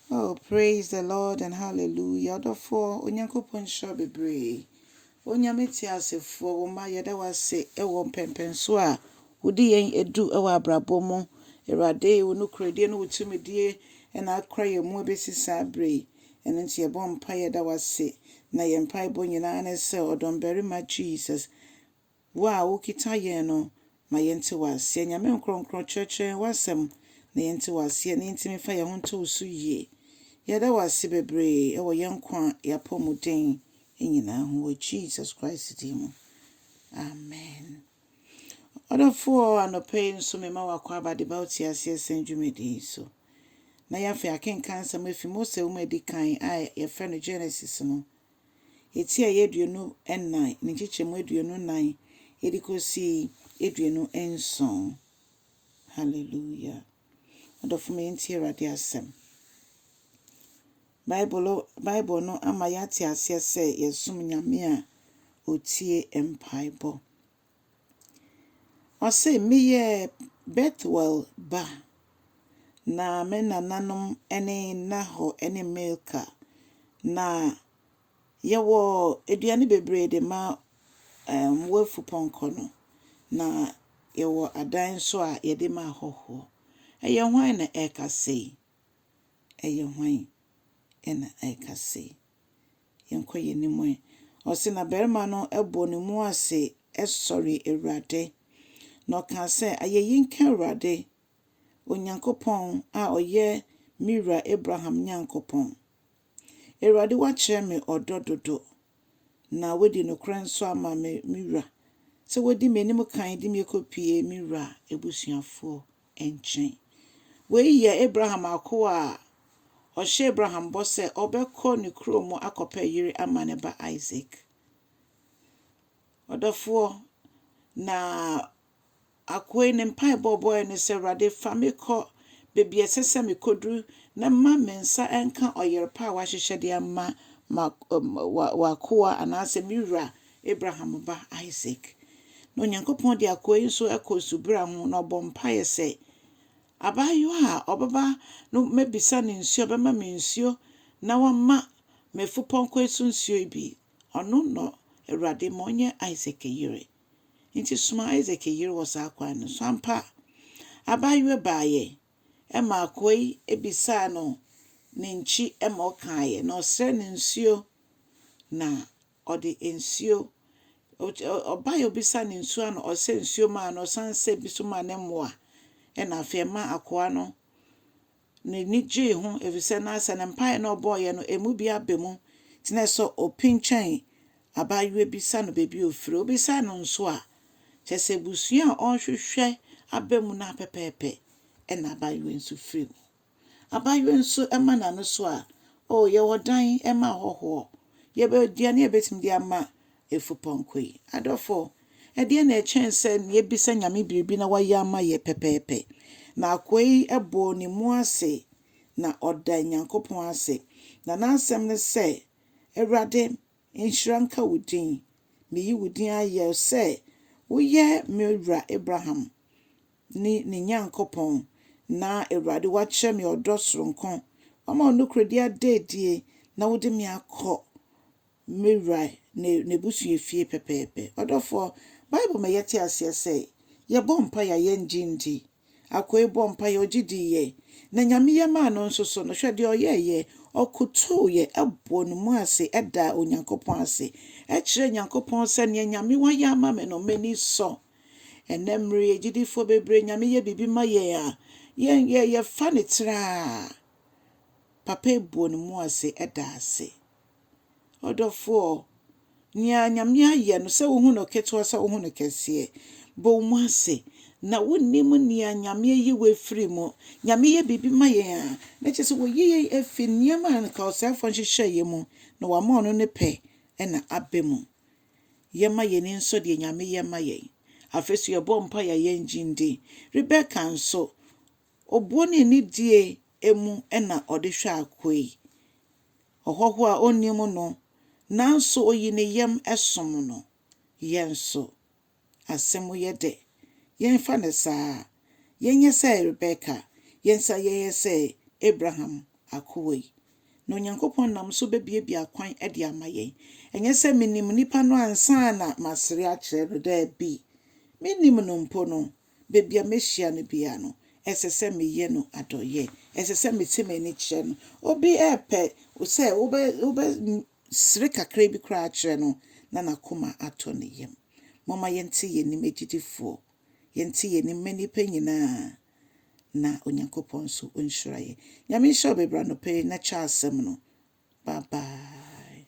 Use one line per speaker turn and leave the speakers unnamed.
Oh praise the Lord and hallelujah ɔdɔfoɔ Onyankopɔn nhyira wo bebree Onyame teasefoɔ wo mma yɛda wo ase wɔ mpɛmpɛnsoɔ a wode yɛn adu wɔ abrabɔ mu Awurade wo nokorɛdie ne wo tumidie na akora yɛn mu abɛsi saa berɛ yi ɛno nti yɛbɔ mpaeɛ da wo ase na yɛn mpaebɔ nyinaa ne sɛ ɔdɔmbarima Jesus Wo a wokita yɛn no, ma yɛnte wo aseɛ. Nyame nkorɔnkorɔn, kyerɛkyerɛ yɛn w'asɛm na yɛnte wo aseɛ, na yɛntumi fa yɛn ho nto wo so yie. Yɛda wo ase bebree wɔ yɛn nkwa a yɛapɔ mu den nyinaa ho wɔ Jesus Christ din mu. Amen. Ɔdɔfoɔ, anɔpa yi nso mema wo akwaaba de ba wo te aseɛ sɛn dwumadi yi so. Na yɛn afei akenkan nsɛm afi Mose nwoma a ɛdi kan a yɛfrɛ no Genesis no Atiaeɛ aduonu nnan, ne nkyekyɛmu aduonu nnan de kɔsi aduonu nson. Hallelujah. Adɔfo me yɛntie Awurade asɛm. Bible, Bible no ama yɛate aseɛ sɛ yɛsom Nyame a ɔtie mpaebɔ. Ɔse, Meyɛ Bethuel ba, na me nananom ne Nahor ne Milka, na yɛwɔ aduane bebree de ma wɔn wɔ afupɔnkɔ no, na yɛwɔ adan nso a yɛde ma ahɔhoɔ. Ɛyɛ hwan na ɛreka sei? ɛyɛ hwan na ɛka se, Yɛnkɔ yɛn anim ɛ? Ɔse na barima no bɔɔ ne mu ase sɔree Awurade, na ɔkaa sɛ, Ayɛyi nka Awurade, Onyankopɔn a ɔyɛ me wura Abraham Nyankopɔn. Awurade, woakyerɛ me ɔdɔ dodo, na woadi nokorɛ nso ama me wura, sɛ wodi m'anim kan de me kɔpue me wura abusuafoɔ nkyɛn. Wei yɛ Abraham akoa a ɔhyɛɛ Abraham bɔ sɛ ɔbɛkɔ ne kurom akɔpɛ yere ama ne ba Isak. Ɔdɔfoɔ, na akoa yi ne mpaebɔ ɔbɔeɛ ne sɛ, Awurade, fa me kɔ baabi a ɛsɛ sɛ mekɔduru na mma me nsa nka ɔyere pa a woahyehyɛ de ama w'akoa anaasɛ me wura Abraham ba Isak. Na Onyankopɔn de akoa yi nso kɔ nsubura ho, na ɔbɔ mpaeɛ sɛ, Abaayewa a ɔbɛba no mɛbisa no nsuo, ɔbɛma me nsuo na wama m'afupɔnkɔ yi so nsuo yi bi. Ɔno na Awurade ma ɔnyɛ Isak yere. Enti soma Isak yere wɔ saa kwan no so. Ampa, abaayewa baeɛ, ɛma akoa yi bisaa no ne nkyi ma ɔkaeɛ, na ɔsrɛɛ no nsuo, na Ɔde nsuo, ɔbaeɛ a ɔbisaa no nsuo ano, ɔsɛ nsuo maa no, ɔsan sɛ bi nso maa ne mmoa. Ɛna afei ɛma akoa no n'ani gyee ho ɛfiri sɛ na sɛ ne mpaeɛ na ɔbɔeɛ no ɛmu bi aba mu. Nti na sɛ ɔpinkyɛn abaayewa bi sa no baabi a ɔfiri, ɔbisa no nso a, kyerɛ sɛ abusua a ɔrehwehwɛ aba mu no ara pɛpɛɛpɛ na abaayewa yi nso firi mu. Abaayewa nso ma n'ano so a, Oh, yɛwɔ dan ma ahɔhoɔ. Yɛwɔ aduane a yɛbɛtumi de ama afupɔnkɔ yi. Adɔfo, ɛdeɛn na ɛkyɛn sɛ yɛbisa Nyame biribi na wayɛ ama yɛn pɛpɛɛpɛ? Na akoa yi bɔɔ ne mu ase na ɔdaa Nyankopɔn ase. Na n'asɛm ne sɛ, Awurade, nhyira nka wo din. Meyi wo din ayɛ sɛ woyɛ me wura Abraham. ne ne Nyankopɔn, na Awurade woakyerɛ me ɔdɔ soronko, woama wo nokorɛdie ada adie, na wode me akɔ me wura ne n'abusua fie pɛpɛɛpɛ. Ɔdɔfoɔ, Bible ma yɛte aseɛ sɛ, yɛbɔ mpaeɛ a yɛnnye nndi. Akoe bɔɔ mpaeɛ, ɔgye diiɛ, na Nyame yɛ maa no nso so no, hwɛ deɛ ɔyɛeɛ, ɔkotooeɛ bɔɔ ne mu ase daa Onyankopɔn ase, kyerɛɛ Nyankopɔn sɛ, Nea Nyame woayɛ ama me no, m'ani sɔ. Ɛnnɛ mmere yi agyidifoɔ bebree Nyame yɛ biribi ma yɛn a, yɛn yɛ yɛfa no tiraa. Papa ebuo ne mu ase ɛda ase. Ɔdɔfoɔ, nea Nyame ayɛ no sɛ wohu no ketewa sɛ wohu no kɛseɛ, bɔ wo mu ase na wonim nea Nyame ayi wo afiri mu. Nyame yɛ biribi ma yɛn a, na kyerɛ sɛ wɔyi yɛn afi nneɛma a nka ɔsɛefoɔ nhyehyɛeɛ mu na wama ɔno ne pɛ na aba mu. Yɛma yɛn ani nsɔ deɛ Nyame yɛ ma yɛn. Afei nso yɛbɔ mpaeɛ a yɛngye ndi. Rebeka nso, obuo ne anidie mu na ɔde hwɛ akoa yi, ɔhɔhoɔ a ɔnnim no, nanso ɔyii ne yam som no. Yɛn nso, Asɛm yɛ dɛ. Yɛmfa no saa. Yɛnyɛ sɛ Rebeka, yɛn nsa yɛyɛ sɛ Abraham akoa yi. Na Onyankopɔn nam so bebuebue akwan de ama yɛn. Ɛnyɛ sɛ minim nipa no ansa na masere akyerɛ no, dabi. Minnim no mpo no, baabi a mehyia no biara no, ɛsɛ sɛ meyɛ no adɔeyɛ. Ɛsɛ sɛ meteɛ m'ani kyerɛ no. Obi repɛ sɛ Sere kakraa bi koraa kyerɛ no, na n'akoma atɔ ne yam. Momma yɛnte yɛn anim agyidifoɔ, yɛnte yɛn anim mma nnipa nyinaa, na Onyankopɔn nso ɔnhyira yɛn. Nyame nhyira wo bebree anɔpa yi, na kyɛ asɛm no. Bye bye.